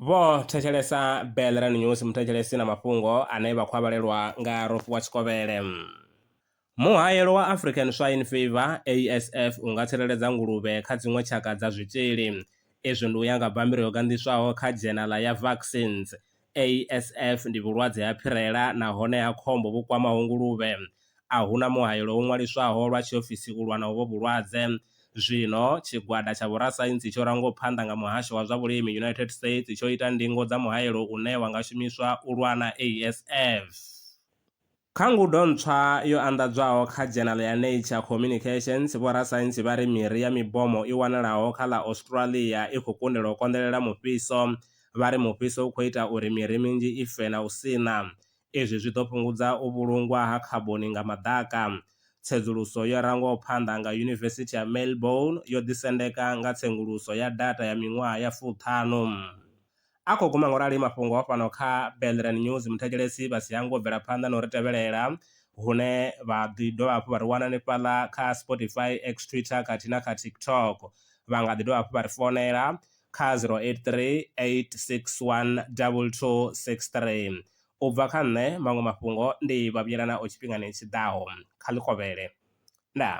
vho thetshelesa belran news muthetshelesi na mafhungo ane vha khou a vhalelwa nga rofu wa tshikovhele muhayelo wa african swine fever asf u nga tsireledza nguluvhe kha dziṅwe tshaka dza zwitzhili izwi ndi u ya nga bammbiri yo ganḓiswaho kha dzhenala ya vaccines ASF ndi vhulwadze ha phirela nahone ha khombo vhu kwamaho nguluvhe. A hu na muhaelo wo ṅwaliswaho lwa tshiofisi u lwa na uvho vhulwadze. Zwino, tshigwada tsha vhorasaintsi tsho rangwaho phanḓa nga Muhasho wa zwa Vhulimi United States tsho ita ndingo dza muhaelo une wa nga shumiswa u lwa na ASF. Kha ngudo ntswa yo anḓadzwaho kha dzhenala ya Nature Communications, vhorasaintsi vha ri miri ya mibomo i wanalaho kha ḽa Australia i khou kundelwa u konḓelela mufhiso. Vha ri mufhiso u khou ita uri miri minzhi i fe na u sina. Izwi zwi ḓo fhungudza u vhulungwa ha khaboni nga maḓaka. Tsedzuluso yo rangwaho phanḓa nga Yunivesithi ya Melbourne yo ḓisendeka nga tsenguluso ya data ya miṅwaha ya fuṱhanu. A khou guma ngorali mafhungo fhano kha Belren News. Muthetshelesi vha si hangwe u bvela phanḓa na u ri tevhelela hune vha ḓi dovha hafhu vha ri wana hanefhaḽa kha Spotify, X, Twitter khathihi na kha TikTok. Vha nga ḓi dovha hafhu vha ri founela kha 0838612263. U bva kha nṋe, maṅwe mafhungo ndi Vhavhuyelanaho tshifhingani tshi ḓaho. Kha ḽi kovhele. Ndaa.